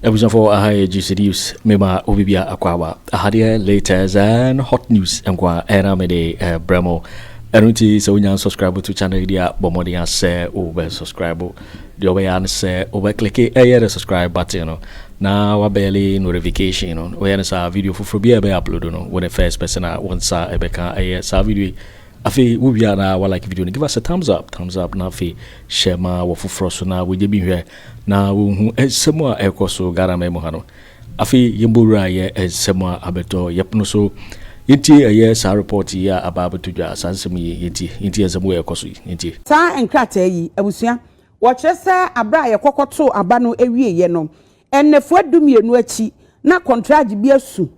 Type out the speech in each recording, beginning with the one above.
abusuafoɔ aha yɛ gye seduce mema obibia akwaaba ahadeɛ latest and hot news nkoa ɛna mede brɛ mo ɛno nti sɛ wonya subscribe to channel yi deɛ bɔ mmɔden asɛ wobɛ subscribe Deɛ wobɛyɛ ara ne sɛ wobɛ click ɛyɛ the subscribe button no na wa bɛli notification no, woyɛ no saa a video foforɔ biara a yɛbɛ upload no wone first person a wo nsa bɛka ɛyɛ saa video yi. Afei wo wie a na wa like video no, give us a thumbs up, thumbs up, na afei share ma wɔ foforɔ so na wɔnyɛ bi nhwɛ na wɔnhu nsɛm a ɛrekɔ so Ghana man mu ha no. Afei yɛmbɔ wura yɛ nsɛm a abɛtɔ yɛpono so yɛntie ɛyɛ saa report yi a aba abɛto dwa saa nsɛm yi yɛntie yɛntie nsɛm wei a ɛkɔ so yi yɛntie. Saa nkrataa yi, abusua, wɔkyerɛ sɛ bere a yɛkɔkɔtoo aba no awieeɛ no, nnafua dumienu akyi na kɔntragye bi asu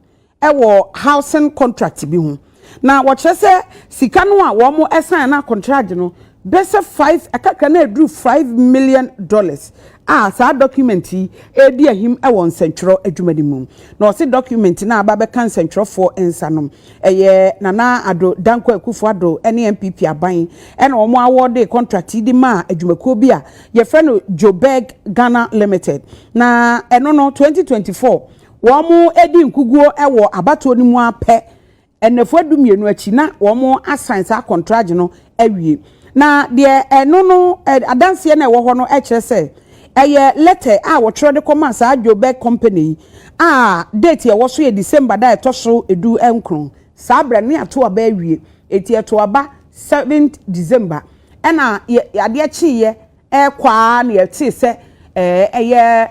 wɔ housing contract bi ho na wɔkyerɛ sɛ sika no a wɔn ɛsan na contract no bɛsɛ five ɛkakra na ɛduru five million dollars a saa document yi ɛredi ahim wɔ nsɛntwerɛ adwuma no mu na ɔse document no a aba bɛka nsɛntwerɛfoɔ nsa no ɛyɛ Nana Ado Dankwa Akufo Ado ne NPP aban ɛna wɔn awɔde contract yi de maa adwumakuo bi a yɛfrɛ no Joburg Ghana Limited na ɛno no twenty twenty four Wɔadi nkuguo wɔ abatoɔ no mu ara pɛ, nnafua du mmienu akyi, na wɔasan saa kɔntragye no awie. Na deɛ ɛno no adanseɛ no a ɛwɔ hɔ no kyerɛ sɛ ɛyɛ lɛtɛ a wɔtwerɛ de kɔmaa saa Joburg company yi a date a ɛwɔ so yɛ December da a ɛtɔ so du nkron. Saa berɛ no na yɛato aba awie, enti yɛtoo aba seventh December, ɛna adeɛ kyeeɛ Ɛrekɔ ara na yɛtee sɛ ɛyɛ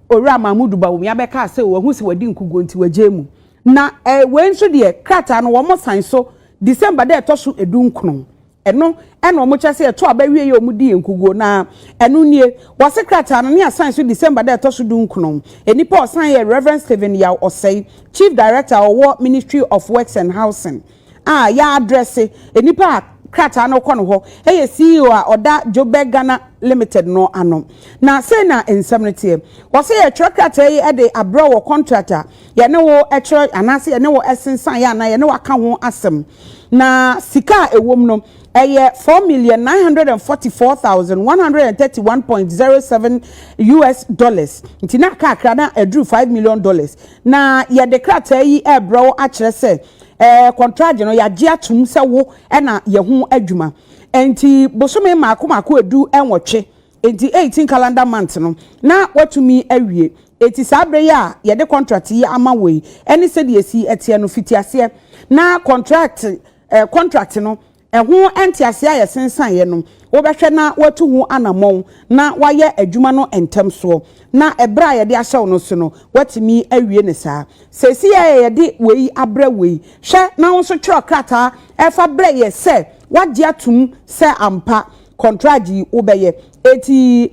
Owura Mahmood Bawumia bɛkaa sɛ wahu sɛ wadi nkoguo nti wagyae mu. Na wei nso deɛ krataa no wɔsan so December da ɛtɔ so du nkron ɛno ɛna wɔkyerɛ sɛ yɛto aba wie yɛ wɔdii nkoguo na ɛno nie wɔse krataa no ne asan so December da ɛtɔ so du nkron nnipa ɔsan yɛ Rev Stephen Yaw Ɔsɛe Chief Director ɔwɔ Ministry of Works and Housing a yɛaddresse nnipa a krataa no kɔ no hɔ yɛ CEO a ɔda Joburg Ghana Limited no ano. Na sei na nsɛm no teɛ. Wɔse yɛtwerɛ krataa yi de abrɛ wo wɔ contract a yɛne wo kyerɛ anaasɛ yɛne wo sensan yɛ anaa yɛne wo aka ho asɛm. Na sika a ɛwom no ɛyɛ four million nine hundred and forty four thousand one hundred and thirty one point zero seven US dollars. Nti na kakra na ɛduru five million dollars. Na yɛde krataa yi ɛrebrɛ wo akyerɛ sɛ Ɛɛ, kɔntragye no, yɛagye atom sɛ wo na yɛ ho adwuma. Enti bosome mmaako mmaako edu nwɔtwe, enti eighteen calendar months no, na woatumi awie. Enti saa bere yi a yɛde kɔntrakte yi ama wo yi ne sɛdeɛ esi teɛ no, fiti aseɛ na kɔntrakte, ɛɛ, kɔntrakte no Ɛho ntease a ɛsensaneeɛ no, wobɛhwɛ na woatu ho anammɔn na woayɛ adwuma no ntɛm soɔ, na ɛberɛ a yɛde ahyɛ wo no so no, woatumi awie no saa. Seesei a yɛde wei abrɛ wo yi, hwɛ na wo nso twerɛ krataa fa brɛ yɛn sɛ woagye atom sɛ ampa kɔntragye yi wobɛyɛ. Enti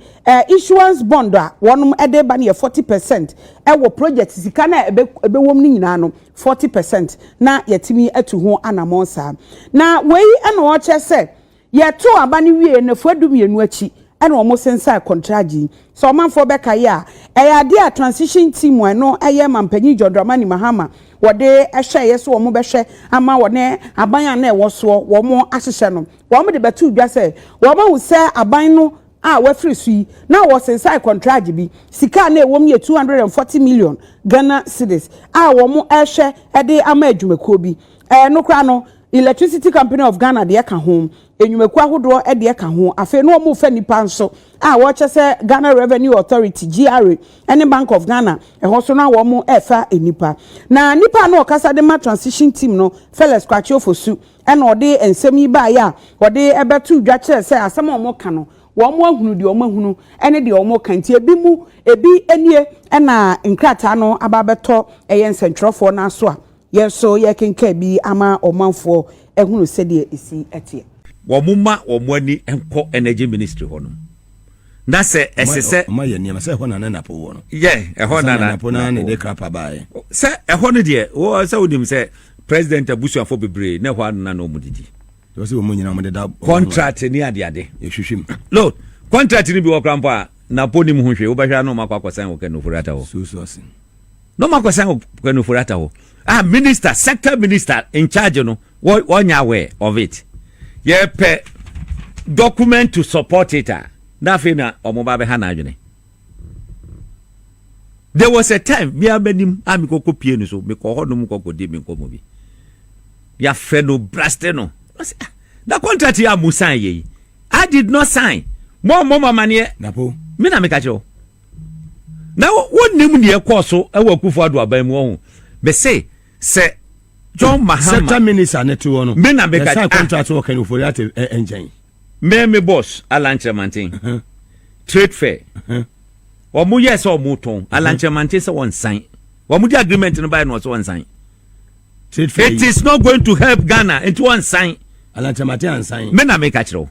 issuance bond a wɔde reba no yɛ forty percent wɔ project sika no a ɛbɛwom no nyinaa no forty percent na yɛatumi atu ho anammɔn saa. Na wei na ɔrekyerɛ sɛ yɛtoo aba no wieeɛ nnafua dumienu akyi na wɔsensae kɔntragye yi. Sɛ ɔmanfoɔ bɛkae a, ɛyɛ adeɛ a Transition Team a ɛno yɛ Mampanyin John Dramani Mahama wɔde hyɛeɛ sɛ wɔbɛhwɛ ama wɔne aban a na ɛwɔ soɔ wɔahyehyɛ no, wɔde bɛtoo dwa sɛ wɔahu sɛ aban no a wɔafiri so yi, na wɔsensan kɔntragye bi. Sika a na ɛwom yɛ 240 million Ghana cedis a wɔrehwɛ de ama adwumakuo bi. Ɛno koraa no, Electricity Company of Ghana deɛ ka ho, nnwumakuo ahodoɔ deɛ ka ho. Afei na wɔrefa nnipa nso a wɔkyɛ sɛ Ghana Revenue Authority, GRA, ne Bank of Ghana, ɛhɔ nso na wɔrefa nnipa. Na nipa a na ɔkasa de ma transition team no, Felix Kwakye Ofosu, na ɔde nsɛm yi baeɛ a ɔde bɛto dwa kyerɛ sɛ asɛm a wɔka no, wɔahunu deɛ wɔahunu ne deɛ wɔka nti, ebi mu, ebi nie na nkrataa no aba abɛtɔ ɛyɛ nsɛntwerɛfoɔ no aso a yɛn nso yɛrekenkan bi ama ɔmanfoɔ ahunu sɛdeɛ ɛsi teɛ. Wɔmma wɔn ani nkɔ Energy Ministry hɔnom. na sɛ ɛsɛ sɛ ɔma yɛ nneɛma sɛ ɛhɔ na na napo wɔ no yɛ ɛhɔ na napo na ne de krapa baeɛ sɛ ɛhɔ no deɛ wɔ sɛ wonim sɛ president abusuafo bebree na ɛhɔ na na ɔmo didi wɔ sɛ wɔn nyinaa ɔmo deda contract ne adeade ɛhwehwɛ mu no contract no bi wɔ kora mpo a napo nim ho hwee wobɛhwɛ a na ɔmo akɔ akɔsan wɔ kanofori ata hɔ susu ase na ɔmo akɔsan wɔ kanofori ata hɔ a ah, minister sector minister in charge no Wɔ wɔ nyɛ aware of it. Yɛ pɛ document to support it a, na afei na ɔmo ba bɛha n'adwene. There was a time, me ara m'anim a me kɔ kɔ pie no so, me kɔ hɔ nom kɔ kɔ di me nkɔmɔ bi. Yɛ afrɛ no braste no. Na ɔse ah, na contract yi a mo sign yɛ yi, I did not sign. Mo a mo ma maneɛ. Na po. Me na me ka kyerɛ wo. Na wo nim deɛ ɛkɔɔ so ɛwɔ Akufo Addo aban mu ɔho. Me se sɛ John Mahama. Sector minister ne te wɔ no. Me na bɛka. Yɛsan ah. contract wɔ Kenya Ofori ate nkyɛn. Me me boss Alankyerɛmanten. Uh-huh. Trade fair. Uh-huh. Wɔn yɛ sɛ wɔn tɔn. Uh-huh. Alankyerɛmanten sɛ wɔn nsan. Wɔn di agreement no báyìí na wɔsɛ wɔn nsan. Trade fair. It is not going to help Ghana nti wɔn nsan. Alankyerɛmanten ansan. Me na me ka kyerɛw.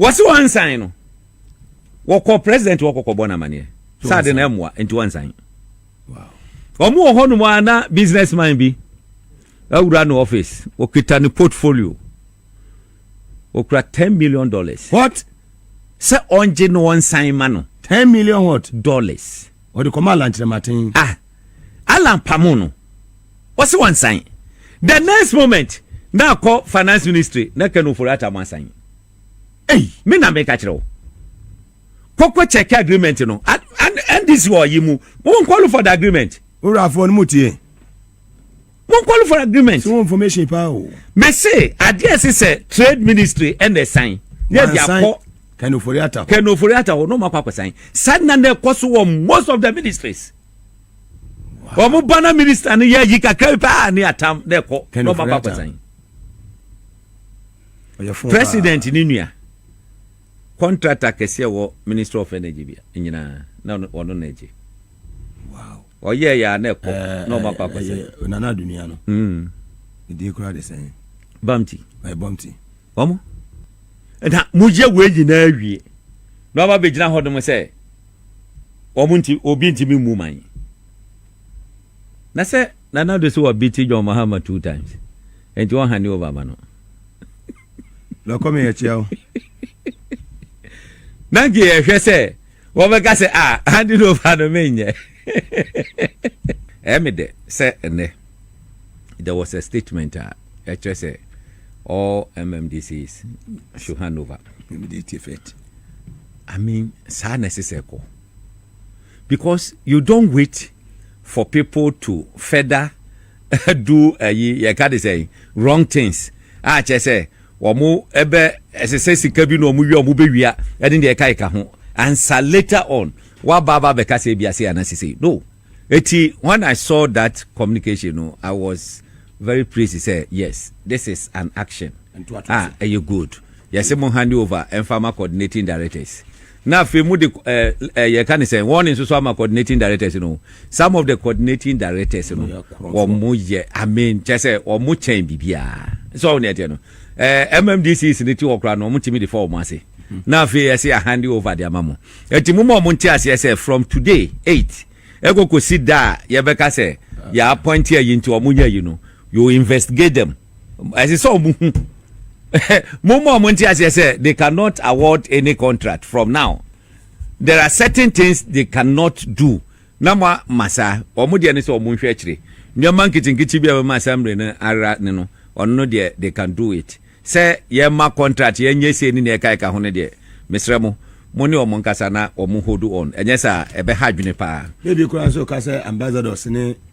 Wɔsi wɔn nsan no. Wɔkɔ president wɔkɔkɔ bɔ n'amaneɛ. Sáà de na ɛmoa nti wɔn nsan. Wɔn wɔ hɔnom a na business man bi awura ne office. Wɔkita ne portfolio. Wɔkura ten million dollars. What? Sɛ ɔngye na ɔnsan ma no. Ten million what? Dollars. Ɔde kɔma Alan Kyerɛmaten. Ah, Alan pamo no. Wɔsi wɔnsan. The next moment na akɔ finance ministry na Ken Ofori-Atta mo asan. Ei, me na meka kyerɛ wo. kɔkɔ check agreement no ndc wɔ ɔyi mu wɔn call for the agreement. wurafoɔ no mu tie. wɔn call for agreement. so wɔn information paa o. mɛse adeɛ ɛsɛ sɛ trade ministry ɛna ɛsan yɛ de akɔ kɛnofori ata hɔ kɛnofori ata hɔ n'ɔmo akɔ akɔsan san na na ɛkɔ so wɔ most of the ministries. wɔn ba na minister no yɛ yi kakra paa ne atam na ɛkɔ n'ɔmo akɔ akɔsan. president ne nua. Kɔntrata kɛse a ɛwɔ Ministry of Energy bia nyinaa na ɔno na ɛgye. Wow. Ɔyɛ yɛ a na ɛkɔ na ɔmo akɔ akɔsɛ. Ɛyɛ nana adunia no. Mm. Ɛdin kura de sɛn. Bamti. Ɛyɛ bamti. Ɔmo. Na mo yɛ wei nyinaa wie. Na ɔba bɛgyina hɔ nom sɛ ɔmo nti obi ntumi mmu man. Na sɛ nana do sɛ wɔbiti John Mahama two times. Nti wɔn hand over ma no. na ɔkɔ me akyia wo na nka yɛhwɛ sɛ wɔbɛka sɛ a ah, hande no ɔfa no menyɛ ɛyɛ me dɛ sɛ ɛnɛ there was a statement a ɛkyerɛ sɛ all mmdcs should hand over immediate effect i mean saa na ɛsɛ sɛ ɛkɔ because you don't wait for people to further do ayi yɛka de sɛn wrong things a kyerɛ sɛ wɔn ɛbɛ ɛsɛ sɛ sika bi na wɔn wia wɔn bɛ wia ɛne deɛ ɛka ɛka ho ansa later on waba aba abɛka sɛ ebi ase ana sese no eti when I saw that communication no I was very pleased sɛ yes this is an action a ɛyɛ good yɛsɛ mo hand over ɛnfa ma coordinating directors. Na afei mo de ɛɛ ɛɛ yɛ ka ne sɛn wɔn ne nso so ama coordinating directors no some of the coordinating directors no wɔn mo yɛ amen kyɛ sɛ wɔn mo kyɛn biribiara sɛ wɔn ne ɛteɛ no ɛɛ eh, mmdcs ne ti wɔ kora no wɔn ti mi de fa wɔn ase hmm. na afei ɛsɛ yɛ hand over de ama mo ɛti mo ma wɔn nti aseɛ sɛ from today eight ɛkɔ kɔ si da a yɛbɛka sɛ yɛ appoint yɛ yi nti wɔn nyɛ yi no you investigate them. ɛsɛ sɛ ɔmo hu mo mu a ɔmo nte aseɛ sɛ they cannot award any contract from now there are certain things they cannot do na mo ama saa ɔmo deɛ ne sɛ ɔmo nhwɛ akyire nneɛma nketenkete bi a bɛma asamble no ara ne no ɔno no deɛ they can do it sɛ yɛma contract yɛnyɛ sei ne nea ɛkaeka ho no deɛ mesrɛ mo mo ne ɔmo nkasa na ɔmo hold on ɛnyɛ saa ɛbɛha adwene paa. bɛbi koraa nso ka sɛ ambassadors ne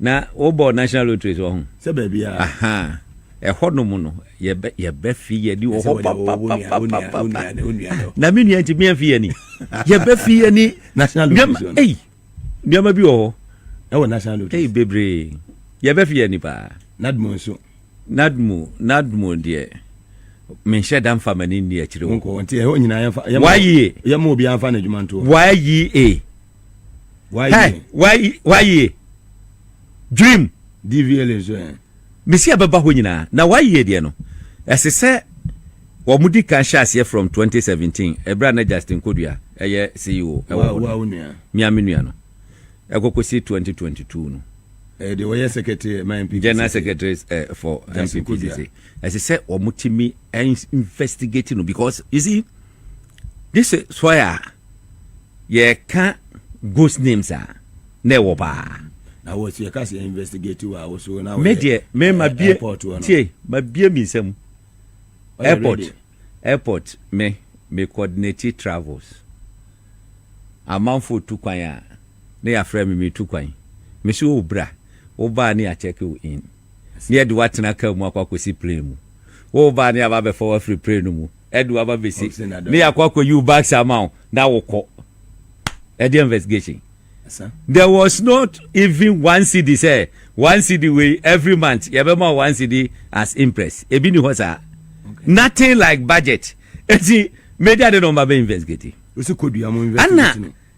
Na wo bɔ national lottery so ɔho. Sɛ baabi a. Ahaa ɛhɔ nom no yɛbɛ fi yɛ ni wɔ hɔ papapapapapa na mi nua nti mi yɛn fi yɛ ni yɛbɛ fi yɛ ni national lottery ɛyi nneɛma bi wɔ hɔ ɛwɔ national lottery ɛyi bebree yɛbɛ fi yɛ ni paa nadmo nso nadmo nadmo deɛ menhyɛ da mfa m'ani nni akyire wo wayi e wayi e Hey, why, why ye? Dream. DVLA nso ɛ. Mesi abɛba hɔ nyinaa. Na why ye deɛ no? Ɛsɛ sɛ wɔn di kan hyɛ aseɛ from 2017 ɛberɛ a na Justin Kodua ɛyɛ CEO ɛwɔ hɔ no. Mia me nua no. Ɛkɔkɔ si 2022 no. Ɛyɛ deɛ wɔyɛ secretary ɛma eh, MPP. General secretary eh, for MPP sese. Ɛsɛ sɛ wɔn ti mi investigate no because you see this is why. yɛka ghost names a na ɛwɔ paa na wɔ si ɛka sɛ investigate wɔ awo so na me deɛ me ma bie tie ma bie mi nsɛm airport airport me me coordinate travels amanfo tu kwan a ne yɛafrɛ me me tu kwan me so wo bra wo baa ne akyɛke wo in ne yɛde woatena kaa mu akɔ akɔsi plane mu wo baa ne aba bɛfa wo afiri plane no mu ɛde waba bɛsi ne yɛakɔ akɔyi wo bags ama wo na wokɔ ɛde investigation there was not even one cd sɛ one cd wei every month yɛbɛma one cd as impress ebi ni hɔ saa nothing like budget eti media de na ɔma bɛ investigate ana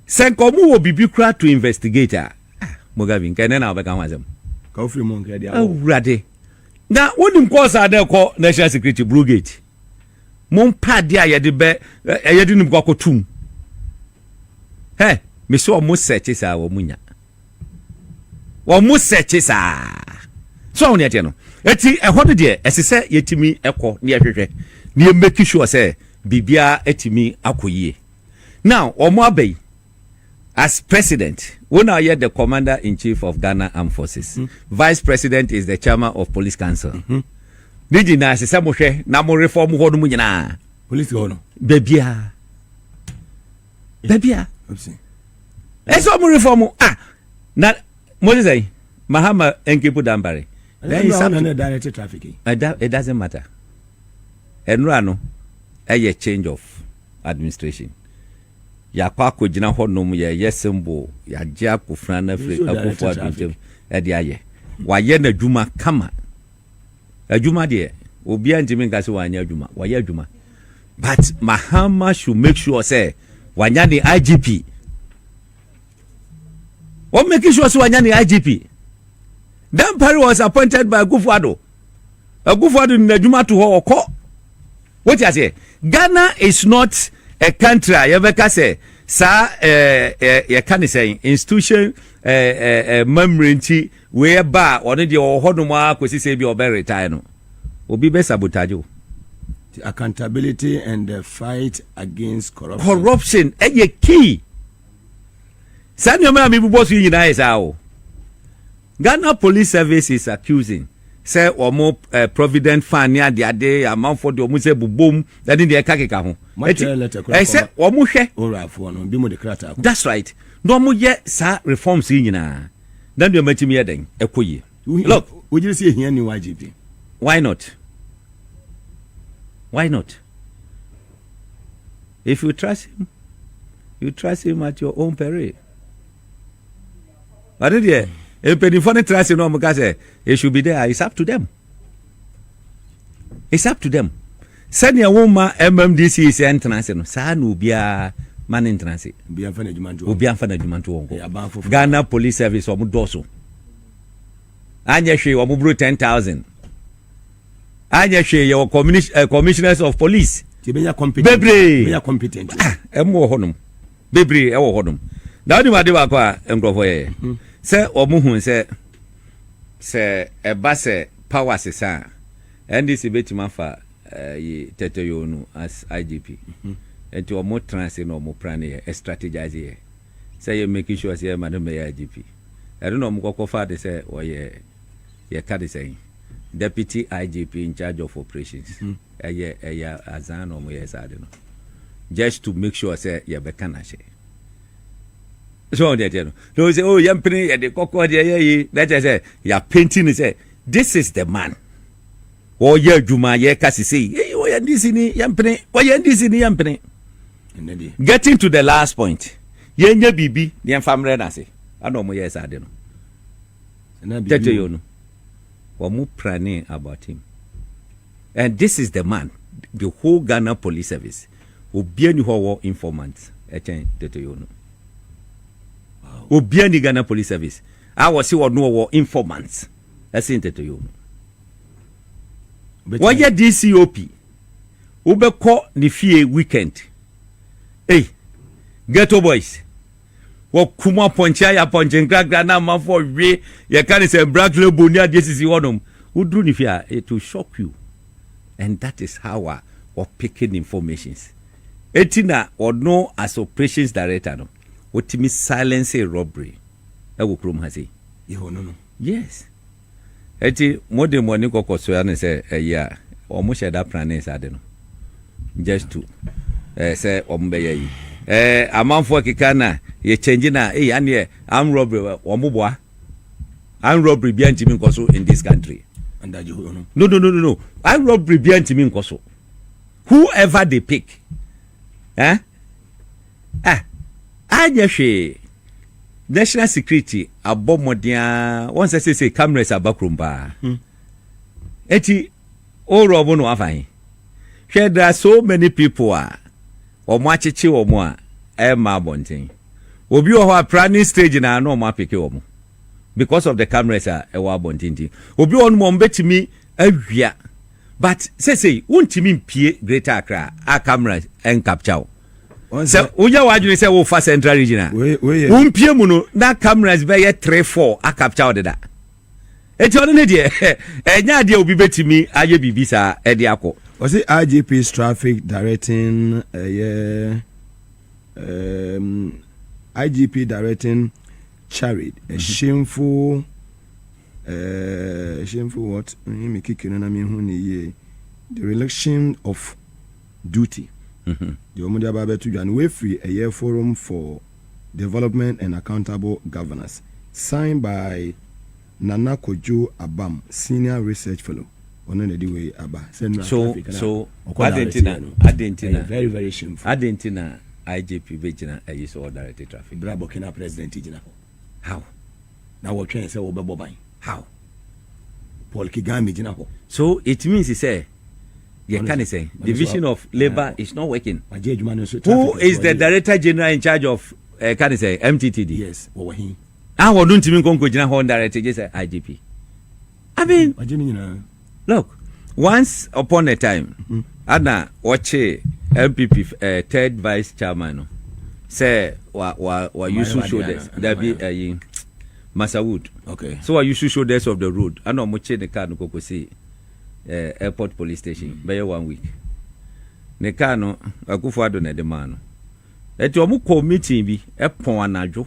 sɛ nka ɔmo wɔ biribi kura to investigate a ah, mogabi nka ɛnɛ na ɔbɛka ho asɛm awurade na wonim kɔɔsa dɛ kɔ national security brugate Mompɛ adeɛ a yɛde bɛ ɛ yɛde no bɛkɔ akɔto mu. Hɛ, mese wɔn sɛkye saa wɔn nya. Wɔn sɛkye saa. So wɔn ɛteɛ no. Eti ɛhɔ no deɛ ɛsɛ sɛ yɛtumi ɛkɔ ne yɛhwehwɛ ne yɛ make sure sɛ biribiara atumi akɔ yie. Now wɔn aba yi. As president, wo na woyɛ the commander in chief of Ghana armed forces. Vice president is the chairman of police council. Ne nyinaa ɛsɛ sɛ mohwɛ na mo reform hɔ no mu nyinaa. Police hɔ no. Baabiara. Baabiara. Ɛsɛ ɔmo reform ah na mo ti sɛ Mahama Nkipu Danbare. Then he said, no, direct traffic. It doesn't matter. Enura no, a change of administration. Yɛakɔ akɔgyina hɔnom, yɛreyɛ symbol, yɛagye Akufena no afiri Akufo-Addo ntam de ayɛ. Wayɛ n'adwuma kama. Adwuma deɛ, obiara ntumi nka sɛ wanyɛ adwuma, wayɛ adwuma. But Mahama should make sure sɛ wanya ne IGP. Wọ́n make sure sɛ wanya ne IGP. Dampare was appointed by Akufo-Addo. Akufo-Addo de n'adwuma to hɔ, ɔkɔ. Wote aseɛ? Ghana is not a country a yɛbɛka sɛ saa yɛka ne sɛn institution mmammerɛ nti wei ɛba a ɔno deɛ ɔwɔ hɔ nom a kɔsi sɛ bi ɔbɛ retire no obi bɛ sabotage o. The accountability and the fight against corruption. Corruption ɛyɛ key. Saa nneɛma a mebobɔ so yi nyinaa yɛ saa o. Ghana Police Service is accusing sɛ wɔn provident fund ne adeade amanfoɔ de wɔn nsa abobom ne deɛ ɛkakeka ho. Eti ɛsɛ wɔn hwɛ. Owurafoɔ no bi mo de krataa kɔ. That's right. Na wɔn yɛ saa reforms yi nyinaa. Na nneɛma tumi yɛ dɛn ɛkɔ yie. Look. Wogyere sɛ ehia ni YGP. Why not? Why not? If you trust him, you trust him at your own peril. ɔno deɛ mpanyinfoɔ no tra ase na wɔn ka sɛ it should be there it's up to them it's up to them sɛnea wɔn ma mmdc sɛ ntena ase no saa na obiara ma ne ntena ase obi anfa na adwuma nto obi anfa na adwuma nto wɔn kɔ ghana police service wɔn dɔɔso anyɛ hwee wɔn buru ten thousand anyɛ hwee yɛ wɔ eh, commissioners of police bebree ɛmu wɔ hɔnom. bebree wɔ hɔ nom na wonim ade baako a nkurɔfoɔ yɛyɛ hmm. sɛ wɔn hu sɛ sɛ ɛba sɛ power sesa a ndc bɛtumi afa eh, yi tɛtɛyoo no as igp hmm. nti wɔn tena ase na wɔn plan yɛ strategize yɛ sɛ yɛ making sure sɛ yɛ ma no mɛyɛ igp ɛno na wɔn kɔkɔ fa de sɛ wɔyɛ Yɛka ne sɛn? Deputy IGP in charge of operations. Ɛyɛ ɛyɛ azaa na wɔyɛɛ saa ade no just to make sure sɛ yɛbɛka no ahyɛ. So wɔn deɛ ɛteɛ no. Na wɔn sɛ oh yɛn pene yɛde kɔkɔɔ deɛ yɛ yi na ɛkyɛ sɛ yɛapenti ne sɛ this is the man. Wɔyɛ adwuma yɛka sisi yi. Eyi wɔyɛ NDC ni yɛn pene wɔyɛ NDC ni yɛn pene. Getting to the last point yɛnyɛ biribi yɛn fa mmerɛ n'ase ɛna wɔn yɛɛ saa ade no. Tete yo no wɔmo pranee about him and this is the man the whole Ghana police service obia ni hɔ ɔwɔ informant ɛkyɛn Tete yo no obia ni Ghana police service a wɔsi ɔno ɔwɔ informant ɛsen Tete yo no wɔyɛ DCOP wobɛkɔ ne fie weekend ei ghetto boys. wɔkum apɔnkye ayɛ apɔnkye nkrakra na amanfoɔ we yɛka ne sɛ black label ne adeɛ sisi hɔnom woduru ne fie a it will shock you and that is how a wɔpeke ne informations eti na ɔno as operations director no wɔtumi silence robbery ɛwɔ kurom ha sei yɛ ɔno no yes Enti mode moani kɔkɔ soa no sɛ ɛyɛ a wɔn hyɛ da pranee saa ade no just to eh, sɛ wɔn bɛyɛ yi eh, amanfoɔ keka na yɛ change na eh, aneɛ arm robbery wɔn boboa arm robbery bia ntimi nkɔ so in this country no no no no arm robbery bia ntimi nkɔ so whoever they pick eh Ah! Anyɛ hwee! National security abɔ mmɔden ara, wɔn sɛ sese cameras aba kurom paa. Hmm. Eti, o rɔbo no afa he? Hwɛ, there are so many people a wɔn akyekye wɔn a ɛmma abɔnten. Obi wɔ hɔ a planning stage na na wɔn apeke wɔn because of the cameras a ɛwɔ abɔnten ti. Obi wɔ hɔ wɔn betumi awia but sese wontumi mpie Greater Accra a camera ɛnkapkya wo. sɛ woyɛ w'adwene sɛ wofa central region a wompie mu no na cameras bɛyɛ three four acapture ɔde da eti ɔno ne deɛ ɛnyɛ adeɛ obi bɛtumi ayɛ biribi saa ɛde akɔ. ɔsi IGP's traffic directing ɛyɛ eh, um, IGP directing charade a shameful uh, shameful what? Me kiki no na me hu ne yie the relation of Duty, deɛ wɔn de aba abɛto dwa no, wei firi ɛyɛ Forum for Development and Accountable Governance, signed by Nana Kojo Abam, Senior Research Fellow, ɔno na ɛde wei aba, sɛ nnora So, traffic no so, a ɔkɔ adɛn direct nti na, yɛ no, adɛn nti ɛyɛ na, very very shameful. adɛn nti na IGP bɛgyina ayi so ɔdirect traffic? Berɛ a Burkina President gyina hɔ. How? Na wɔtwɛn sɛ wɔbɛbɔ ban. How? Paul Kigame gyina hɔ. So it means sɛ deɛ ɛka ne sɛ division of labour is not working. Wagye adwuma no nso. Who is the director general in charge of ɛka ne sɛ MTTD? Yes, wɔwɔ he? Ah, wɔn ntumi nkɔ nkɔgyina hɔ ndirect gye sɛ IGP. I mean. Wagye ne nyinaa. Look, once upon a time, ana wɔkyee NPP eh, third vice chairman no sɛ wa wa wa use shoulders dabi ayi Masawood. Okay. So wa use shoulders of the road. Ana wɔn kye ne car no kokosi eh, airport police station mm. bɛyɛ one week. Ne car no akufo ado na ɛde maa no. Ɛti wɔn kɔ meeting bi ɛpɔn anadwo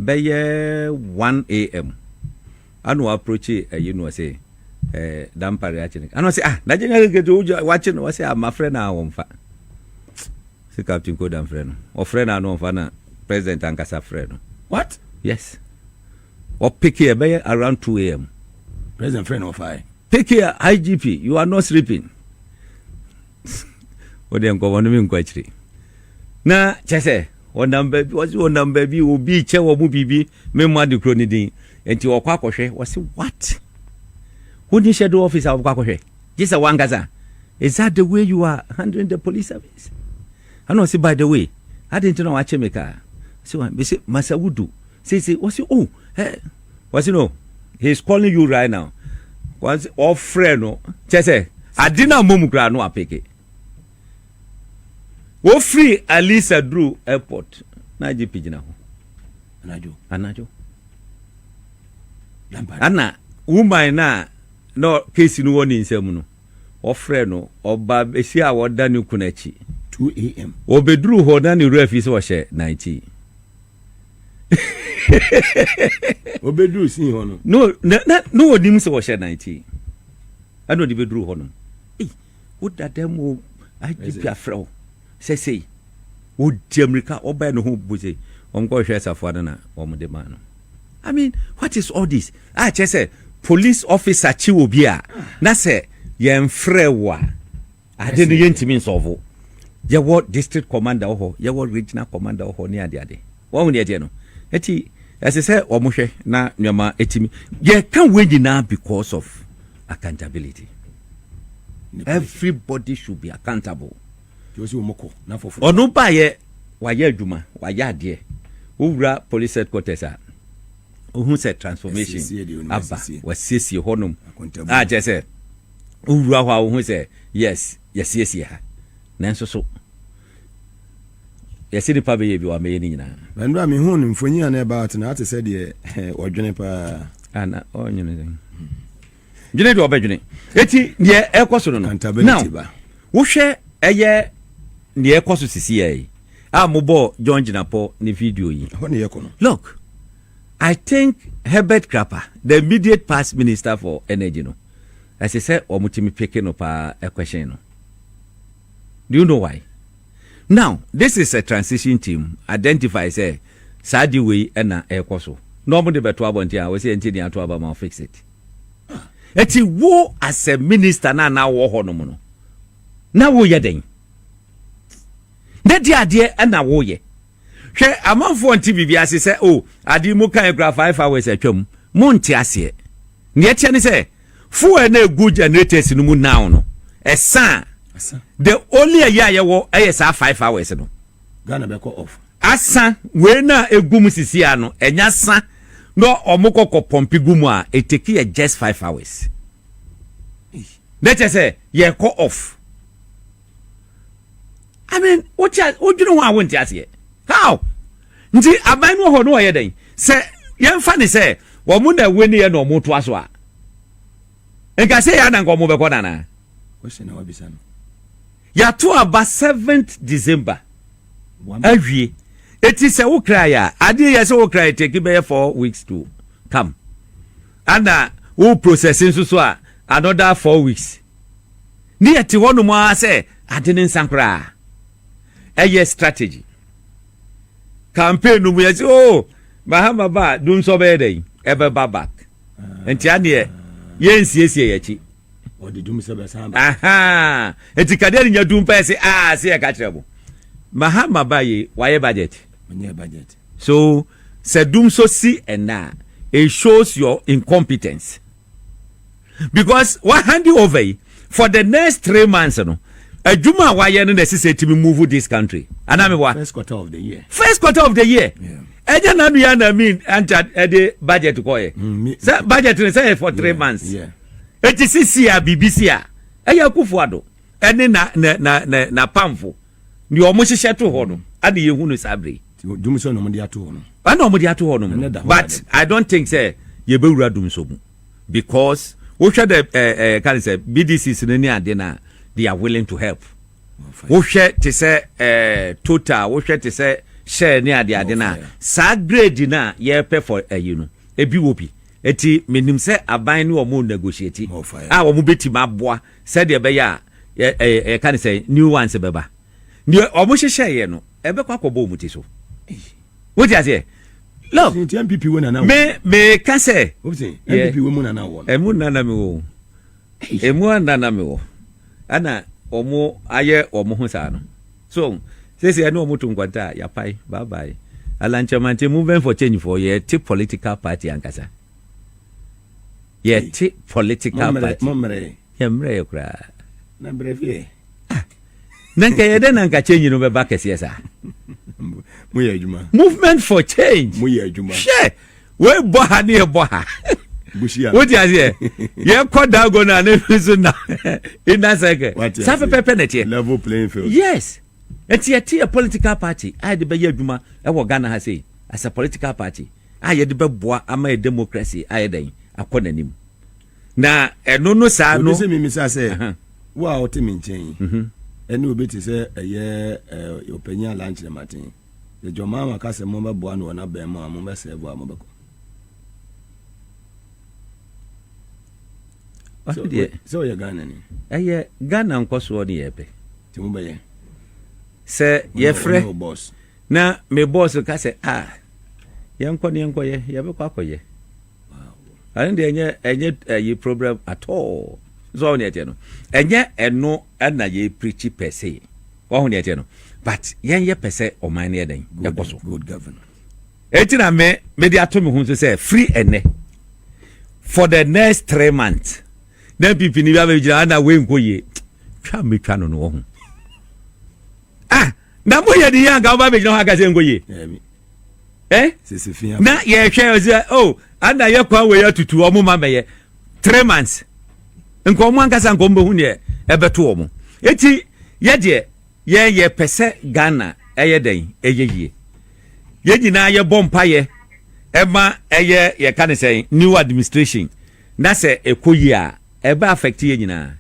bɛyɛ 1 a.m. Ana ɔaproche ayi no ɔse eh Dampare aakye no. Ana ɔse ah na gyenya keke to wogya wɔakye no ɔse ah mafrɛ no a ɔmmfa. Se Captain Koda mfrɛ no. Ɔfrɛ no a na ɔmmfa na President ankasa frɛ no. What? Yes. Ɔpeke ɛbɛyɛ around 2 AM. President frɛ no ɔfae. Peke a IGP you are not sleeping. Wo deɛ nkɔmɔ no mi nkɔ akyire. Na kyɛ sɛ wɔnam baabi wɔsi wɔnam baabi obi kyɛ wɔn mu biribi me mma de kuro ne din nti wɔkɔ akɔhwɛ wɔsi what wonni hyɛ do office a wɔkɔ akɔhwɛ gye sɛ wankasa is that the way you are handling the police service ɛna ɔsi by the way adi nti na wakye me kaa si wɔn bisi masa wudu sisi wɔsi oh eh. wɔsi no he is calling you right now wɔsi ɔfrɛ no kyɛ sɛ ade na mmom koraa no apeke wofiri alisa duru airport na agye pigyina ho anadwo anadwo ana woman no a na kesi no wɔ ne nsam no wɔfrɛ no ɔba bɛsi a wɔda ne kun akyi 2am wɔbɛduru hɔ na ne wura fi sɛ ɔhyɛ 19 obeduru sin hɔ no. no na na na onim sɛ wɔhyɛ nan ti ɛna ɔde bɛduru hɔ nom ei woda dɛm o agp afrɛ wo sɛ sei wɔdi amirika ɔbɛɛ no ho bu sei wɔn kɔ hwɛ safoa no na wɔn de maa no i mean what is all this a kyɛ sɛ police officer kyi obi a na sɛ yɛn frɛ wo a Ade no yɛntumi nsɔɔvo. Yɛwɔ district commander wɔ hɔ, yɛwɔ regional commander wɔ hɔ ne adeade. Wahu deɛ ɛteɛ no? Nti ɛsɛ sɛ wɔhwɛ na nneɛma ɛtumi. Yɛka wei nyinaa because of accountability. Everybody should be accountable. Ɔno baayɛ, wayɛ adwuma, wayɛ adeɛ. Wowura police headquarters a, wohu sɛ transformation aba, wasiesie hɔnom. Akyɛ sɛ. wowura hɔ a wohu sɛ yes yɛsiesie ha nanso so yɛsɛ nipa bɛyɛ bi wamɛyɛ ne nyinaa mɛnura mehu no mfonyin a na ɛba ate na ate sɛ deɛ ɔdwene paa ana ɔnwene dɛn dwene deɛ ɔbɛdwene ɛti deɛ ɛkɔ so no no now wohwɛ ɛyɛ deɛ ɛkɔ so sisi yɛ yi a mobɔɔ john gyinapɔ ne video yi look i think herbert crapper the immediate past minister for energy no Ɛsɛ sɛ wɔn tumi peke no paa question no do you know why now this is a transition team identify sɛ saa de wei na ɛkɔ so na wɔn de bɛto abɔnten a wɔsɛ ɛnti ne ato aba ma fix it ɛti wo as a minister na na wɔ hɔ nom no na woyɛ dɛn na di adeɛ na woyɛ Hwɛ amanfoɔ nte biribi ase sɛ o ade yi mo kae kura five hours atwam mo nte aseɛ neɛ ɛteɛ ne sɛ fuel na egu generators no mu now no ɛsa a the only ɛyɛ a yɛwɔ ɛyɛ saa five hours no Ghana bɛkɔ off asa wei na egu mu sisi a no ɛnya sa na ɔmo kɔkɔ pɔmpi gu mu a eteki yɛ just five hours na kyɛ sɛ yɛkɔ off. I mean, wote a wodwene ho a wonte aseɛ. How? Nti aban no wɔ hɔ no wɔyɛ dɛn? Sɛ yɛmfa ne sɛ wɔn na ɛwɔ ne yɛ na wɔn toa so a, nka sɛ yɛ ananka wɔn bɛkɔ nana. Question na wabisa no. Yɛato aba seventh December awie. Eti sɛ wo kra yɛ a, adeɛ yɛ sɛ wo kra yɛ teki bɛyɛ four weeks to come. Ana wo process nso so a another four weeks. Ne yɛte hɔnom ara sɛ ade no nsa koraa. Ɛyɛ strategy. Campaign no mu yɛse oh Mahama ba a dum sɔ bɛyɛ dɛn? Ɛbɛba back. Nti aneɛ yɛnsiesie yɛakyi. Ɔde dum sɛ bɛsan ba. Ahaa. Nti kadeɛ no nya dum pɛ se ah se yɛka kyerɛ mo. Mahama ba ye wayɛ budget. Ɔnyɛ budget. So sɛ dum sɔ si ɛnɛ a it shows your incompetence. because wa hand over yi for the next three months no adwuma a wayɛ no na ɛsɛ sɛ ɛtumi move this country anaa me wa first quarter of the year first quarter of the year ɛnyɛ nanu yɛ na mi anta ɛde budget kɔ yɛ mm, sɛ budget no sɛ yɛ for three months eti sisi a biribi si a ɛyɛ akufo ado. ɛne na na na na n'apamfo deɛ wɔn hyehyɛ to hɔ no ɛna yɛn hu no saa bere yi. dum sɔ na wɔn de ato hɔ no. ɛna wɔn de ato hɔ no but i don't think sɛ yɛbɛwura dum sɔ mu because wohwɛ dɛ ɛɛ ɛɛ kan sɛ bdcs no ne ade na they are willing to help wohwɛ te sɛ ɛɛ total wohwɛ te sɛ hyɛ ne ade ade na saa grade na yɛpɛ for ɛyi no ebi wɔ bi eti menim sɛ aban ne wɔn negotiate a wɔn bɛtumi aboa. Sɛdeɛ ɛbɛyɛ a, yɛ, ɛ, yɛka no sɛn, new ones bɛba. Deɛ wɔn hyehyɛeɛ no, ɛbɛkɔ akɔbɔ wɔn ti so. Wote aseɛ? Look, Nti NPP wɔ nana wɔ. me, meka sɛ, Wobse, yɛ, NPP wɔ mu nana wɔ no. ɛmu nna na mewɔ o. Ɛmu anna na mewɔ. Ɛna wɔn ayɛ wɔn ho saa no. So wɔn, seesei ɛne wɔn to nkwanta a, yɛapae, bye bye. Alankyɛmante, Movement for Change foɔ, yɛte political party ankasa. Yɛte political party. Yɛmmerɛɛ koraa. Ah, na nka yɛdɛ na nka change no bɛba kɛseɛ saa. Movement for change. Hwɛ, wei bɔ ha ne yɛbɔ ha. wote aseɛ yɛkɔ dago no a ne no so na inner circle saa pɛpɛpɛ na ɛteɛ yes ɛti yɛte yɛ political party a yɛde bɛyɛ adwuma ɛwɔ ghana ha sei as a political party a yɛde bɛboa ama yɛ democracy ayɛ dɛn akɔ n'anim na ɛno no saa no. obi sɛ mimisa sɛ wo a ɔte me nkyɛn yi mhm. ɛne obi te sɛ ɛyɛ ɔpanyin alankyerɛ maten yɛ jɔmaa ma ka sɛ mobɛboa no wɔ n'abɛn mu a mobɛsɛɛvo a mobɛkɔ sɛ ɔyɛ ghana ni ɛyɛ ghana nkɔsoɔ ne yɛpɛ nti mobɛyɛ sɛ yɛfrɛ Na me boss ka sɛ, ah, yɛnkɔ na yɛnkɔyɛ, yɛbɛkɔ akɔyɛ. Ɛno deɛ ɛnyɛ ɛnyɛ ɛyi problem at all. So ɔho deɛ ɛteɛ no, ɛnyɛ ɛno ɛna yɛ preachi pɛ se. Ɔho deɛ ɛteɛ no, but yɛn yɛ pɛ sɛ ɔman no yɛ dɛn ɛkɔ so. Good governor. Eti na me me de ato me ho nso sɛ free ɛnɛ for the next three months na npp ni bi abɛgyina ana wei nkɔ yie twa metwa no no wɔ ho ah na mo yɛ de yɛ anka ɔba bɛgyina hɔ aka sɛ nkɔ yie eh? na yɛhwɛ ɔsɛ o oh, ana yɛ kwan wei atutu ɔmo ma bɛyɛ three months nka ɔmo ankasa nka ɔmo bɛhu neɛ ɛbɛto ɔmo eti yɛ deɛ yɛn yɛ pɛ sɛ ghana ɛyɛ dɛn ɛyɛ yie yɛn nyinaa yɛbɔ mpayɛ ɛma ɛyɛ yɛka ne sɛn new administration na sɛ ɛkɔ yie a Ɛbɛ affect yɛn nyinaa.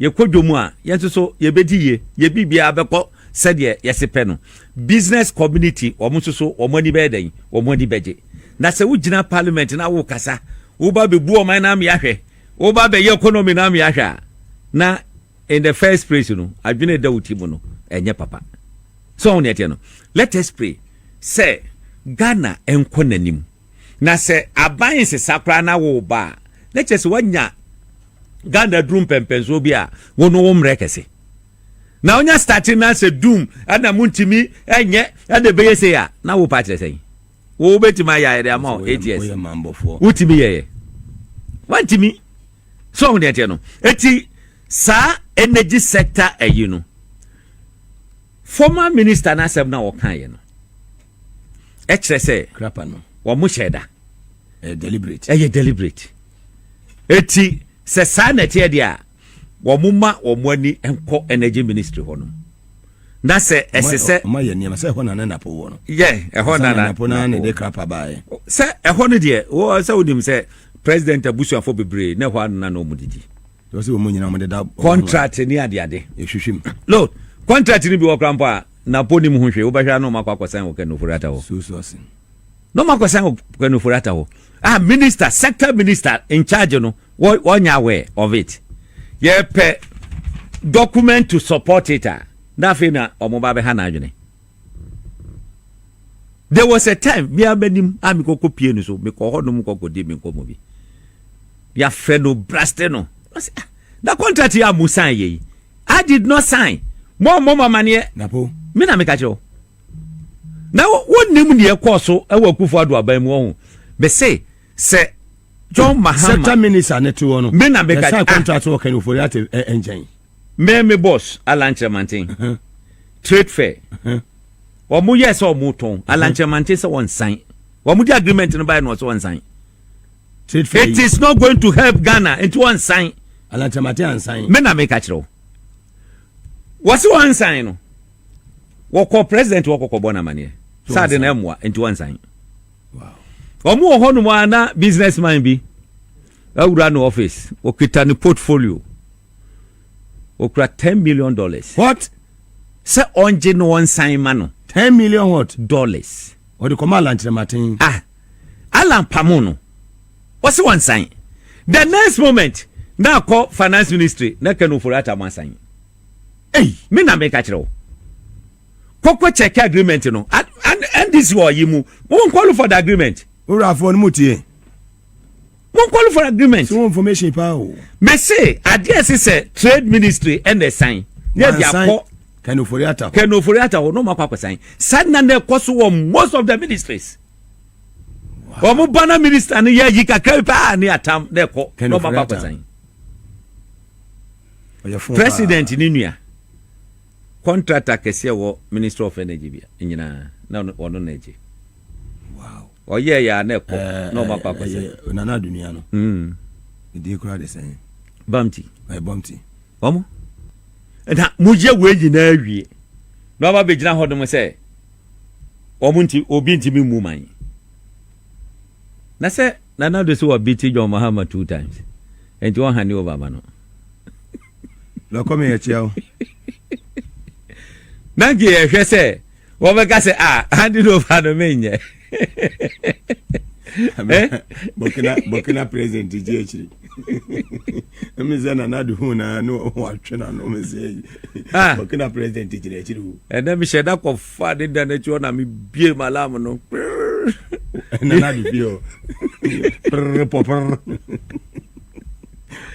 Yɛkɔ dwom a, yɛn nso so yɛbɛdi yie, yɛn biribiara bɛkɔ sɛdeɛ yɛse pɛ no. Business community, wɔn nso so wɔn ani bɛyɛ dɛn? Wɔn ani bɛgye. Na sɛ wogyina parliament na wokasa, woba bɛbu ɔman no amea hwɛ, woba bɛyɛ economy no amea hwɛ a, na in the first place no, adwene a ɛda wo ti mu no, ɛnyɛ papa. So woahu deɛ ɛteɛ no? Let us pray sɛ Ghana nkɔ n'anim. Na sɛ aban nsesa koraa na wo reba a, na kyerɛ sɛ woanya Ghana aduru mpɛmpɛnsoɔ bi a wo no wo mmerɛ kɛse. Na wonya starte na sɛ dum ɛna mo ntumi ɛnyɛ ɛna ɛbɛyɛ sei a, na wo pa kyerɛ sɛn? Wo wobɛtumi ayɛ ayɛde ama wo eight years. Wotumi yɛyɛ. Wantumi. So ɔho deɛ teɛ no. Eti saa energy sector ayi no, Former minister no asɛm no a wɔkaeɛ no kyerɛ sɛ Krapa no. wɔn hyɛɛ da. Ɛyɛ deliberate. Ɛyɛ deliberate. Eti sɛ saa na ɛteɛ deɛ a wɔn ma wɔn ani nkɔ energy ministry hɔ nom. Na sɛ ɛsɛ sɛ. Wɔn ayɛ nneɛma sɛ ɛhɔ na ne napo wɔ no. Yɛ ɛhɔ na na napo na na ɛde krapa baayɛ. Sɛ ɛhɔ no deɛ wɔ sɛ wonim sɛ president abusuafo bebree na ɛhɔ na na wɔn didi. wɔsi wɔn nyinaa wɔn deda. contract ni adeade. ehwehwɛ mu. no contract ni bi wɔ kora mpo a na po nim ho hwɛ wobɛhwɛ ano ɔmakɔ akɔsan wɔ kanofori ata hɔ. susu ase. na ɔmakɔsan wɔ kanofori ata hɔ ah minister sector minister in charge no wɔnyɛ aware of it yɛpɛ document to support it a na afei na wɔn ba bɛha n'adwene. there was a time me ara m'anim a mekɔkɔ pie no so mekɔ hɔ nom kɔkɔdi me nkɔmmɔ bi yɛafrɛ no braste no ah, na contract yi a mo sign yɛ yi i did not sign mo mmɔ mo amaneɛ me na meka kyerɛ wo na wonim deɛ ɛkɔɔ so wɔ akufo ado aban mu ɔho mese sɛ john mahama sɛta minisa ne te wɔ no me na meka kyerɛ ah. contract wɔ kan ofori ate ɛnkyɛn Me me boss alankyerɛ manten trade fair wɔn yɛ sɛ wɔn tɔn alankyerɛ manten sɛ wɔn san wɔn de agreement no baayɛ na wɔsɛ wɔn san trade fair it is not going to help Ghana nti wɔn san alankyerɛ manten ansan me na me ka kyerɛ wɔsi wɔn san no wɔkɔ president wɔkɔ kɔ bɔ na amaneɛ saa de na ɛmoa nti wɔn san wɔn wɔ hɔ nom a na businessman bi awura no office wɔkita ne portfolio. Okura ten million dollars. What? Sɛ ɔngye na ɔnsan ma no. Ten million what? Dollars. Ɔde kɔma Alan Kyerɛmaten. Ah! Alan pamo no. Ɔse wansan. The next moment, na akɔ finance ministry na Ken Ofori-Atta mo asan. Ei! Me na meka kyerɛ wo. Kɔkɔ check agreement no. NDC wɔ ɔyi mu. Mo nkɔlu for the agreement. Owurafoɔ no mo tie. One call for agreement. Sɛ information paa o. Mese adeɛ ɛsi sɛ trade ministry ɛna ɛsan. Yɛ de akɔ. Kanofori ata hɔ. Kanofori ata hɔ n'ɔmo akɔ akɔsan. Sanna na ɛkɔ so wɔ most of the ministries. Wɔn ba na minister no yɛ yi kakra bi paa ne atam na ɛkɔ n'ɔmo akɔ akɔsan. President ne nua contractor kɛseɛ wɔ ministry of energy bi nyinaa na ɔno na ɛgye. ɔyɛ yɛ a na ɛkɔ na ɔma kɔ akɔsɛ. ɛyɛ nana adunia no ne din kora de sɛn bamti ɛyɛ bamti wɔn na moyɛ wei nyinaa awie na ɔma bɛgyina hɔ nom sɛ wɔn nti obi ntumi mmu man na sɛ nana do so wɔ bi ti John Mahama two times nti wɔn hane over ma no lɔkɔ mi yɛ kyia o na nti yɛhwɛ sɛ wɔbɛka sɛ a ah, ade no ɔfa no menyɛ burkina burkina president gye akyiri ɛmi sɛ nana de hu na ne watwe na no mi sɛ ah. burkina president gyina akyiri o ɛnna mi hyɛ da kɔ fa de da n'akyi ɔna mi bie ma lam no nana de bie o pere pɔpere.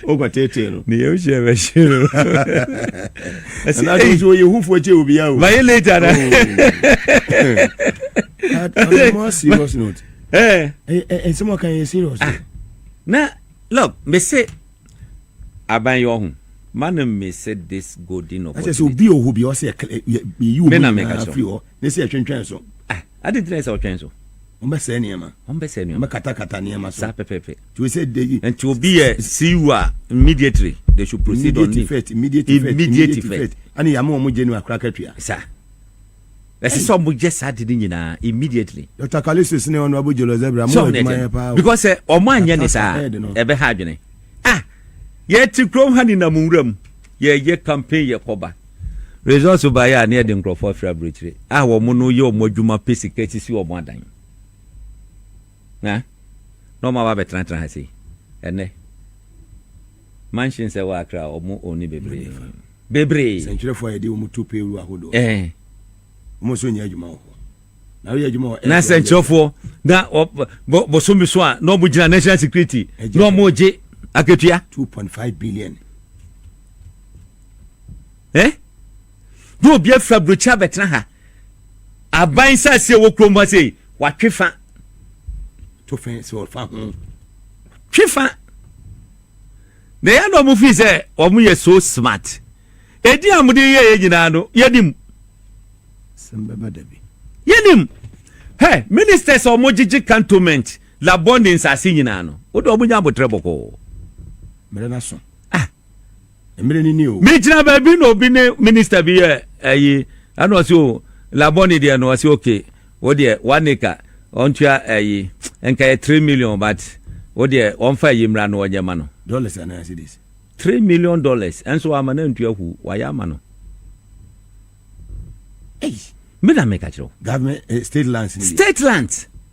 wokɔ tete no ne yɛm hyɛ bɛhye no ɛsɛ na dɔn so yɛ hufoɔ kyɛ obi awo bayɛ late ana I'm more serious note eh eh, eh, eh someone can you serious ah. na look me say aban yɛ ɔho mana me say this golden opportunity ɛsɛ sɛ obi ɔho bi ɔsɛ yɛ yi omi na afiri hɔ ne sɛ ɛtwentwɛn so ah, adi ntina ɛsɛ ɔtwɛn so Wɔbɛsɛe nneɛma. Wɔbɛsɛe nneɛma. Wɔbɛkatakata nneɛma so. Saa pɛpɛɛpɛ. Nti o sɛ de yi. Nti obi yɛ siw a immediately they should proceed on immediate effect immediate effect immediate effect ɛna yɛ ama wɔn gye no akora katua. Sa ɛsɛ sɛ wɔn yɛ saa de ne nyinaa immediately. Dr. Kalisis ne ɔno abo jolo zebra mo yɛ adwuma yɛ paa. because sɛ wɔn anyɛ ne saa ɛbɛ ha adwene ah yɛ ti kurom ha ne nam nwura mu yɛ yɛ campaign yɛ kɔba. Results baeɛ a na yɛde nkurɔfoɔ afiri aburokyire a wɔn no yɛ wɔn adwuma pɛ sika sisi wɔn adan. Na na wɔn aba abɛtenatena ha sei. Ɛnɛ mansions ɛwɔ Accra wɔn oni bebree. Bebree. Sɛntwerɛfoɔ a yɛde wɔn tu payroll ahodoɔ. Ɛɛ. Eh. Wɔn nso nyɛ adwuma wɔ hɔ. Na woyɛ adwuma wɔ. Na sɛntwerɛfoɔ na bosome so a na wɔn gyina national security na wɔn gye akatua. Two point five billion. Eh? Na obi afiri aburokyi abɛtena ha. Aban saase a ɛwɔ kurom ha sei, watwe fa. To fɛ sɛ ɔfa ho. Twe fa. Na ɛyɛ na wɔn fi sɛ wɔn yɛ so smart. Edi a wɔde yɛ yɛ nyinaa no, yɛnim. Sɛm bɛba da bi. Yɛnim. Hɛ, ministers a wɔgyegye cantonment labɔ ne nsaase nyinaa no, wode wɔn nya abotire bɔkɔɔ. Mmerɛ no aso. Ah. mmerɛ ni ni o. megyina baabi na obi ne minista bi yɛ ayi ɛna ɔsi o labɔni deɛ no ɔsi oke o deɛ one acre ɔntua ayi nka yɛ three million but o deɛ ɔnfa ayi mmra no ɔnyɛ ma no. dollars anaa cedis. three million dollars ɛnso wama no antua hu wayɛ ama no. Ei, me na meka kyerɛ wo. Government, eh, state lands. State lands.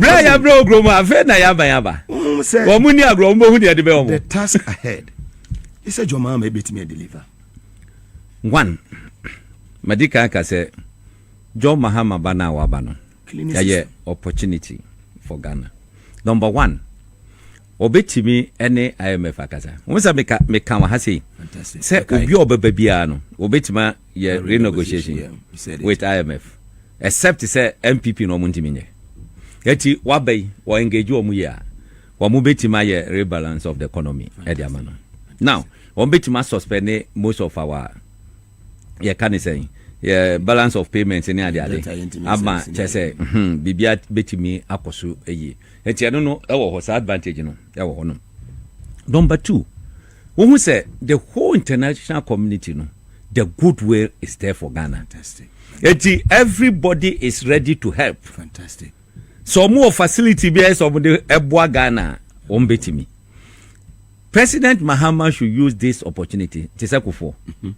berɛ a yɛabrɛ wɔ kurom afei na yɛaba yɛaba wɔn mu ni agorɔ wɔn bɛhu deɛ de bɛ wɔn the task ahead ɛsɛ dwɔmaa ma ɛbɛtumi adeliver one madi kan ka sɛ john mahama ba no a waba no ɛyɛ opportunity for ghana number one ɔbɛtumi ne imf akasa wo sɛ meka wɔ ha sei sɛ obi a ɔbɛba biara no ɔbɛtumi yɛ renegotiation with IMF except sɛ NPP na wɔn ntumi nyɛ eti waba yi wɔ engage wɔn yie a wɔn betumi ayɛ rebalance of the economy ɛde ama no now wɔn betumi asuspend most of our yɛ ka ne sɛn yɛ balance of payments ne ade ade ama kyɛ sɛ hmm, biribi betumi akɔ so yie eti ɛno no ɛwɔ hɔ saa advantage no ɛwɔ hɔ no number two wohu sɛ the whole international community no. The good will is there for Ghana. Fantastic. Eti everybody is ready to help. Fantastic. Sɛ wɔn wɔ facility bi a ɛsɛ wɔn de ɛboa Ghana a, wɔn betumi. President Mahama should use this opportunity te sɛ kofoɔ. Mhm.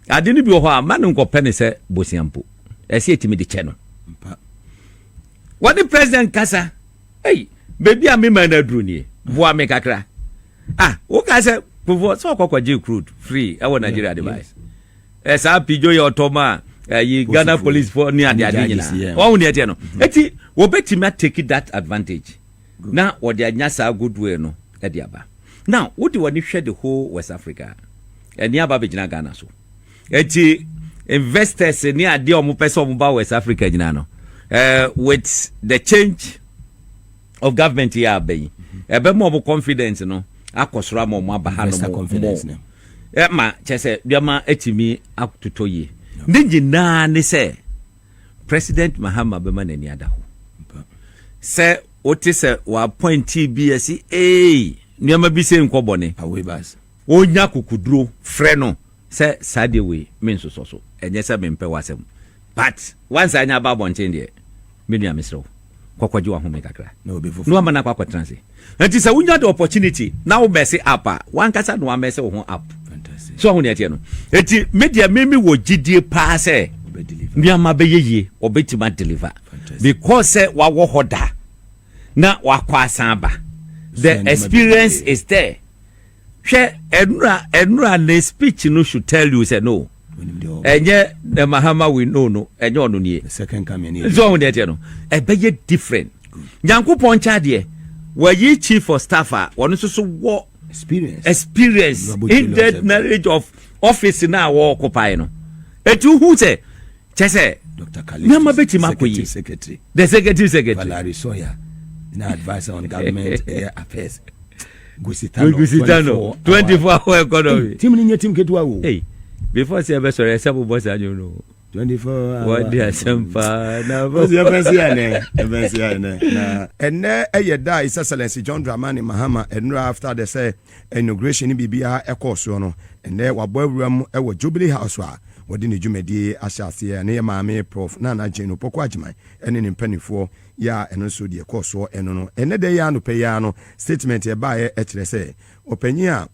Ade no bi wɔ hɔ a ma no nkɔpɛ ne sɛ bosia mpo. Ɛsɛ etimi de kyɛ no. Wɔde president kasa. Hey, beebi a mema no aduru nie. Boa me kakra. Ah, wo ka sɛ kufuɔ sɛ ɔkɔkɔ gye crude free ɛwɔ Nigeria de bae. Ɛ saa pijo yɛ ɔtɔ ma ɛyi Ghana police fo ne ade ade nyinaa. Wɔn ne ɛteɛ no. Eti wɔbɛtumi atake that advantage na wɔde anya saa goodwill no ɛde aba. Now wode w'ani hwɛ the whole West Africa a, ɛne aba bɛgyina Ghana so. Eti investors ne adeɛ a wɔpɛ sɛ wɔba West Africa nyinaa no, uh, with the change of government yɛ aba yi ɛbɛma ɔmo confidence no akɔ soro ama ɔmo aba ha no mo ɛma kyɛ sɛ nneɛma atumi atotɔ yie ne nyinaa ne sɛ president mahama bɛma n'ani ada hɔ sɛ wote sɛ wɔapɔnti bi ɛsi ee nneɛma bi sɛ nkɔ bɔne Ɔrenya akokoduro frɛ no sɛ saa deɛ wei mensosɔ so, ɛnyɛ sɛ mempɛ w'asɛm but woansan anya aba abɔnten deɛ me nua mesrɛ wo kɔ kɔgye w'ahome kakra na woama no akɔ akɔtena ase. Nti sɛ wonya the opportunity na wo mess up a, w'ankasa na woamess wo ho up. So woahu deɛ ɛteɛ no? Nti me deɛ me mewɔ gyidie paa sɛ nneɛma bɛyɛ yie, ɔbɛtumi a deliver because sɛ wawɔ hɔ da na wakɔ asan aba, the experience is there Hwɛ ɛnura ɛnura ne speech no should tell you sɛ no ɛnyɛ the mahama we know no ɛnyɛ ɔno nie nso ɔho deɛ teɛ no ɛbɛyɛ different nyankopɔn nkyɛn adeɛ wɔyi chief for staff a wɔn nso so wɔ experience experience in the knowledge of office na wɔɔkopae no ɛti wohu sɛ kyɛ sɛ nneɛma bɛtumi akɔ yi the executive secretary Valerie Sawyer na adviser on government ɛyɛ affairs Gusitano 24 24 hour economy tim ni nyɛ tim ketewa wo hey before sɛ ɛbɛsɔre ɛsɛ bobɔ saa nwom no 24 hour wɔde asɛm paa na ɛbɛsi ɛnɛ ɛbɛsi ɛnɛ na ɛnɛ ɛyɛ da a his excellency John Dramani Mahama ɛnura after the sɛ Inauguration ne biribiara ɛkɔɔ soɔ no, ɛnnɛ wabɔ awuram wɔ Jubilee House a wɔde ne dwumadie yi ahyɛ aseɛ. Ɛno yɛ Maame Prof. Nana Jane Opoku Agyemang ɛne ne mpaninfoɔ yi a ɛno nso deɛ ɛkɔɔ soɔ ɛno no. Ɛnnɛ da yi ara anɔpa yi ara no statement ɛbaeɛ ɛkyerɛ sɛ ɔpanin a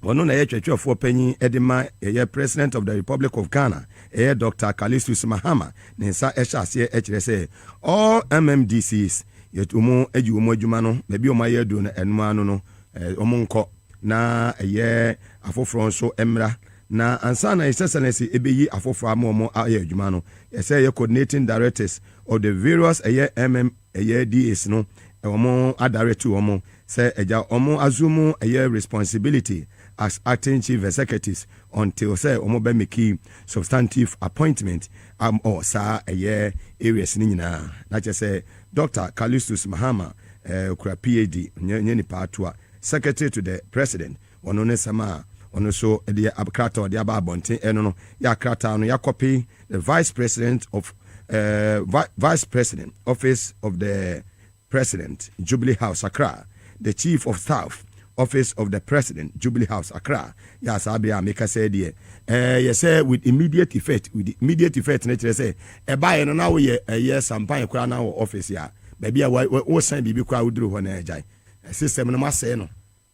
ɔno na ɛyɛ twerɛtwerɛfoɔ panin de ma ɛyɛ President of the Republic of Ghana ɛyɛ Doctor Callistus Mahama ne nsa ɛhyɛ aseɛ ɛkyerɛ sɛ all MMDCs yɛtu wɔn ayi wɔn adwuma no baabi a wɔayɛ aduro no ɛno ara no no wɔnkɔ na ɛyɛ afoforɔ nso mmra. Na ansa na ɛsɛ sɛ na ɛsɛ ɛbɛyi afoforɔ ama wɔn ayɛ adwuma no, ɛsɛ ɛyɛ coordinating directors of the various ɛyɛ mm ɛyɛ DAs no wɔn adirect wɔn sɛ agya wɔn assume ɛyɛ responsibility as acting chief executives until sɛ wɔn bɛ make substantive appointment wɔ saa ɛyɛ areas no nyinaa na kyɛ sɛ Doctor Callistus Mahama eh, okura PhD, ɔnyɛ ɔnyɛ nipa atoa, Secretary to the President, ɔno ne nsɛm a ɔno nso de yɛ ab krataa a ɔde aba abɔnten, ɛno no yɛ krataa no yɛakɔpe the Vice President of eh, vi Vice President, Office of the President, Jubilee House, Accra. The Chief of Staff, Office of the President, Jubilee House, Accra, yɛ a saa bere a meka sɛɛ deɛ, ɛɛ, yɛ sɛ with immediate effect, with immediate effect no kyerɛ sɛ ɛbaeɛ no na woyɛ ɛyɛ sampan koraa na wɔ office a, baabi a wa, wa, wosan biribi koraa woduru hɔ na agyae. System no moasɛe no,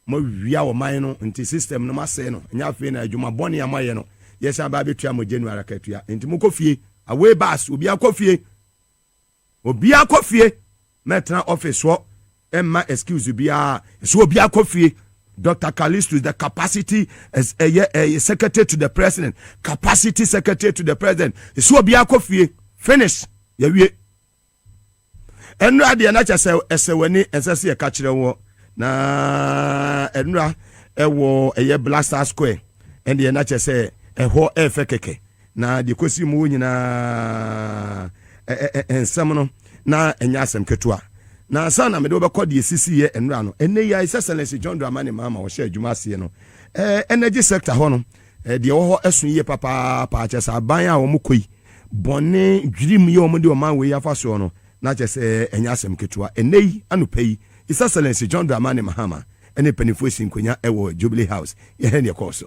moawia ɔman no nti system no moasɛe no, ɛnyɛ afei na adwuma bɔne a moayɛ no yɛsan ba abɛtua mo January akatua, nti mokɔ fie, away bus, obiara kɔ fie. Obiaa kɔ fie mɛtena office hɔ mma excuse biaa ɛsɛ obiaa kɔ fie Doctor Callistus the capacity as ɛyɛ ɛyɛ secretary to the president capacity secretary to the president ɛsɛ obiaa kɔ fie finish yɛwie ɛnura deɛ na kyɛ sɛ ɛsɛ w'ani ɛnsɛ sɛ yɛka kyerɛ wɔ na ɛnura ɛwɔ ɛyɛ Blaster Square ɛndeɛ na kyɛ sɛ ɛhɔ ɛfɛ kɛkɛ Na deɛ ɛkɔsi mu hɔ nyinaa, ɛ-ɛ-ɛ nsɛm no, na ɛnyɛ asɛm ketewa. Na ansa na mede wo bɛkɔ deɛ ɛsisiiɛ nnora no, ɛnnɛ yi ara His Excellency John Dramani Mahama a ɔhyɛɛ adwuma aseɛ no, eh, energy sector hɔ no, eh, deɛ ɛwɔ hɔ ɛso yie papaapa, kyerɛ sɛ aban a wɔn kɔ yi, bɔne, dwirim yɛ wɔn de ɔman wei afa soɔ no, na kyerɛ sɛ ɛnyɛ asɛm ketewa. Ɛnnɛ yi, anɔpa yi, His Excellency John Dramani Mahama ɛne mpanimfoɔ sii nkonnwa ɛwɔ Jubilee House. Yɛhwɛ deɛ ɛkɔɔ so.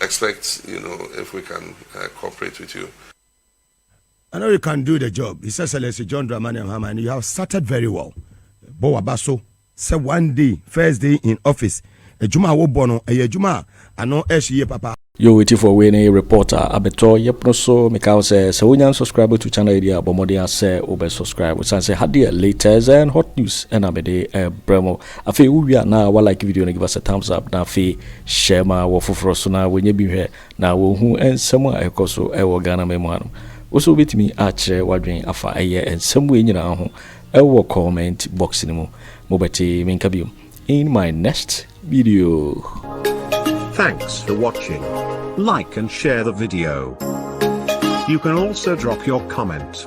expect you know if we can uh, cooperate with you. I know you can do the job. His Excellency John Dramani Mahama, and you have started very well. Bɔ waba so sɛ one day first day in office adwuma a wobɔ no ɛyɛ adwuma a ano ɛhye yie papa. Yo wetifo wei ne report a abɛtɔ yɛpono so meka wo sɛ sɛ wonya subscribe to channel yi deɛ a bɔ mmɔden asɛ wobɛ subscribe sane sɛ ha deɛ latest and hot news ɛna mede ɛbrɛ mo Afei wo wie a na wa like video no give us a thumbs up na afei share ma wɔ foforɔ so na wɔnyɛ bi nhwɛ na wɔn hu nsɛm a ɛkɔ so wɔ Ghana man mu ha nom. Wo so wobɛtumi akyerɛ wadwen afa ɛyɛ nsɛm wei nyinaa ho wɔ comment box no mu. Mo bɛte me nka biom in my next video. Thanks for watching. Like and share the video. You can also drop your comment.